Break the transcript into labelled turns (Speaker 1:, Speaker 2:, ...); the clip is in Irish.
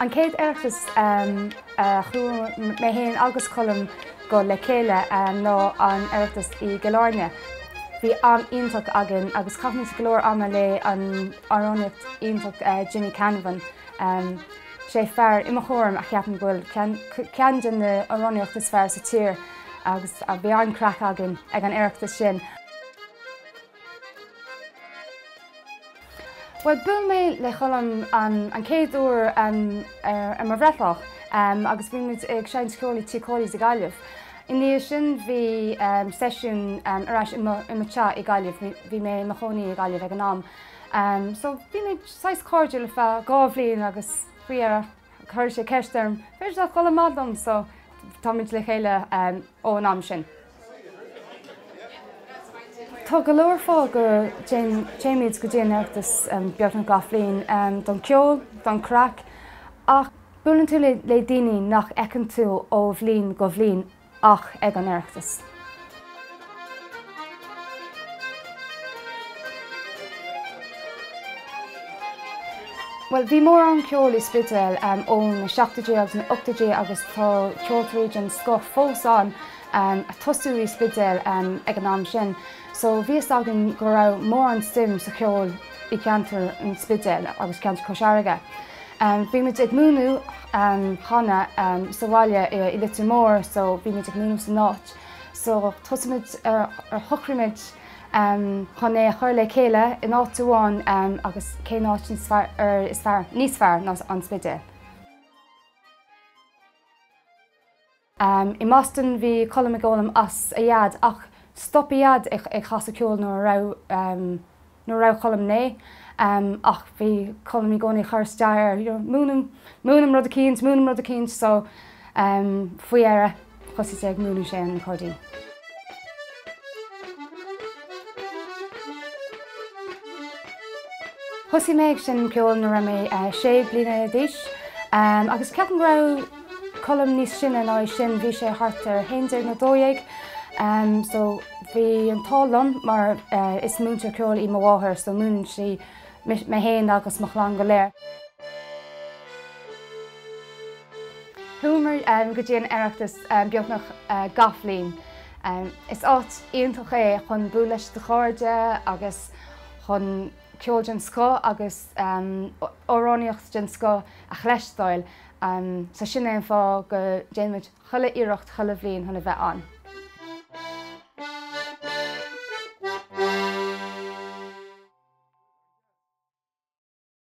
Speaker 1: An chéad Oireachtas a chuaigh mé féin agus Colm go le chéile ná an tOireachtas i gCill Áirne. Bhí am iontach againn agus chaith muid go leor ama leis an amhránaíocht iontach Jimmy Canavan. Sé fear i mo chúram a cheapann go bhfuil ceann de na hamhránaithe is fearr sa tír agus bhí an-chraic againn ag an Oireachtas sin. Bhuel, bhuail mé le Colm an chéad uair ar mo bhreithlá agus bhí muid ag seinnt ceoil i dTigh Chóilí i nGaillimh. I ndiaidh sin bhí seisiún ar ais i mo teach i nGaillimh, bhí mé i mo chónaí i nGaillimh ag an am, so bhí muid saghas cairdiúil ar feadh dhá bhliain agus faoi dheireadh chuir sé ceist orm, b'fhéidir nach dul amach liom, so tá muid le chéile ón am sin. Tá go leor fáth go dtéimid go dtí an tOireachtas beagnach gach bhliain, don cheol, don chraic ach buaileann tú le daoine nach fheiceann tú ó bhliain go bliain ach ag an Oireachtas. Bhuel, bhí mórán ceoil i Spidéal ó na seachtóidí agus na hochtóidí agus tá ceoltóirí den scoth fós ann. um ag tosú i Spidéal um ag an am sin so bhí a fhios againn go raibh mórán suim sa cheol i gceantar an Spidéil agus ceantar Cois Fharraige. Um bhí muid ag múineadh um canadh um sa bhaile i i Leitir Móir so bhí muid ag múineadh san áit so thosaigh muid ar ar shocraigh muid um chun é a chur le chéile in áit amháin um agus cén áit níos fearr er is fearr níos fearr ná an Spidéal. I mBoston bhí Colm ag foghlaim as a dhaid ach stop a dhaid ag casadh ceoil nuair a raibh nuair a raibh Colm naoi ach bhí Colm i gcónaí ag chur isteach air you know múin dom múin dom rud eicínt múin dom rud eicínt so faoi dheireadh thosaigh sé ag múineadh sé an accordion. Thosaigh mé ag seinm ceoil nuair a raibh mé sé bliana d'aois agus ceapaim go raibh Colm níos sine ná é sin, bhí sé thart ar a haon déag nó dó dhéag so bhí an t-ádh liom mar is múinteoir ceoil í mo mháthair so múineann sí mé fhéin agus mo chlann go léir. Chuamar go dtí an tOireachtas beagnach gach bhliain. Is áit iontach é chun bualadh le do chairde agus chun ceol den scoth agus amhránaíocht den scoth a chloisteáil. So sin é an fáth go déanaimid chuile iarracht chuile bhliain chun a bheith ann.